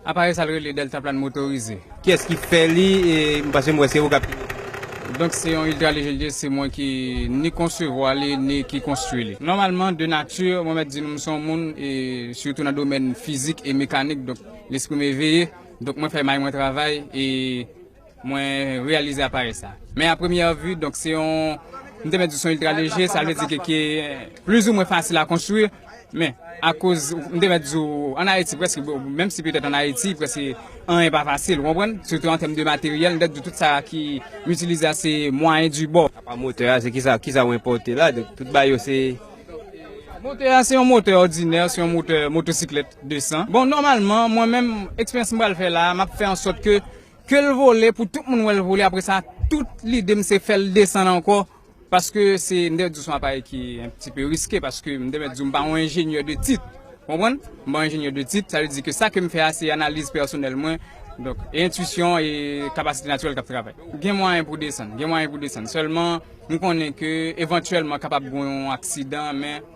Aparèy sa rele deltaplan motorize. Kiyès ki fè li e paske m wè se ou kap pilote. Donk se yon Ultra Léger Jet se mwen ki ni konsevwa li ni ki konstwi li. Nòmalman de nati mwen mèt di nou m se yon moun e sitou nan domèn fizik e mekanik donk lespri m eveye donk mwen fè may mwen travay e. Mwen reyalize aparèy sa. Men a premyè vi, donk se yon, m te mèt di se yon iltra leje, sa vle di ke ki plizi mwen fasil a konstwi. Men, akoz, m te mèt di w, an Ayiti prèske, menm si petèt an Ayiti prèske anyen pa fasil, ou konprann? Sitou an tèm de materyèl, m te mèt di w tout sa ki m itilize a se mwayen di bò. Apa motè a, se ki sa, ki sa ou enpòte la? Donk tout bagay yo se. Motè a se yon motè òdinè, se yon motè motosiklèt 200. Bon, nòmalman, mwen menm, eksperyans m pral fè la a, m ap fè an sòt ke Kel vole pou tout moun wèl vole apre sa tout lidem se fèl desann ankò paske se m te di w son aparèy ki yon ti peu riske paske m te mèt di w m pa yon enjenyè de tit ou konprann m pa yon enjenyè de tit sa vle di ke sa kem fè a se analiz pèsonèl mwen donk e entuisyon e kapasite natirèl kap travay gen mwayen pou desann gen mwayen pou desann sèlman m konnen ke evantyèlman kapab gon yon aksidan men.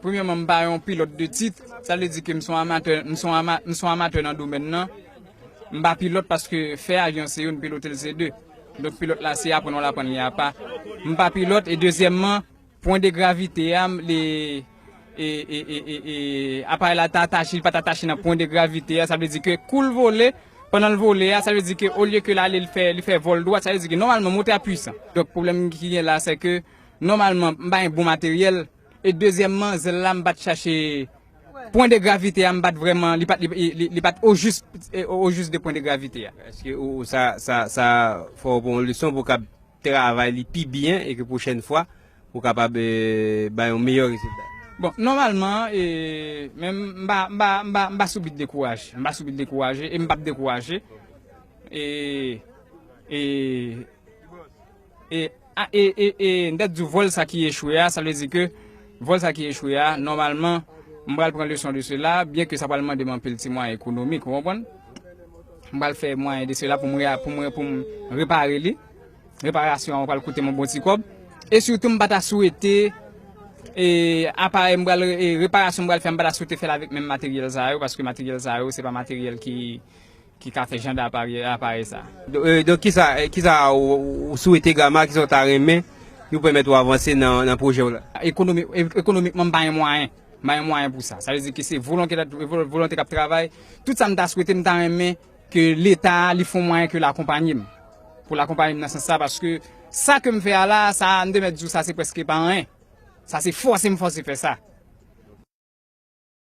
Premyèman m pa yon pilòt de tit, sa vle di ke m son amatè, m son ama, m son amatè nan domèn nan. M pa pilòt paske fè avyon se youn, pilote l se de. Donk pilòt la se aprann wal aprann li apa. M pa pilòt e dezyèmman pwen de gravite a m li e e e e e aparèy la ta atache li pat atache nan pwen de gravite a sa vle di ke kou l vole pandan l vole a sa vle di ke olye ke l ale l fè li fè vòl dwat sa vle di ke nòmalman motè a pwisan. Donk pwoblèm ki gen la sè ke. nòmalman m pa gen bon materyèl e dezyèmman zèl la m pa t chache pwen de gravite a m pa t vrèman li pa t ojis ojis de pwen de gravite a. Eske ou sa sa fè w pran yon leson pou w kab travay li pi byen e ke pwochèn fwa ou kapab bay yon meyè rezilta? Bon nòmalman e menm m pa m pa m pa m pa sou bit dekouraje m pa sou bit dekouraje e m p ap dekouraje e e E a e e e m ta diw vol sa ki echwe a sa vle di ke vol sa ki echwe a nòmalman m pral pran leson de sela byen ke sa pral mande m anpil ti mwayen ekonomik ou konprann m pral fè mwayen de sela pou m rea pou m pou m repare li reparasyon an pral koute m yon bon ti kòb e sitou m pa ta swete e aparèy m pral e reparasyon m pral fè m pa ta swete fèl avèk menm materyèl sa yo paske materyèl sa yo se pa materyèl ki Ki ka fè jan d'aparèy sa. Donk kisa kisa ou swete Gama, kisa ou ta renmen ki pou pèmèt ou avanse nan pwojè w la? Ekonomi, ekonomikman m pa gen mwayen, m pa gen mwayen pou sa. Sa vle di ke se volonte dat, volonte k'ap travay. Tout sa m ta swete, m ta renmen ke leta a li fon mwayen ke l'akonpanye m. Pou l'akonpanye m nan sans sa paske sa ke m fè a la, sa a m te mèt di w sa se prèske pa anyen. Sa se fòse m fòse fè sa.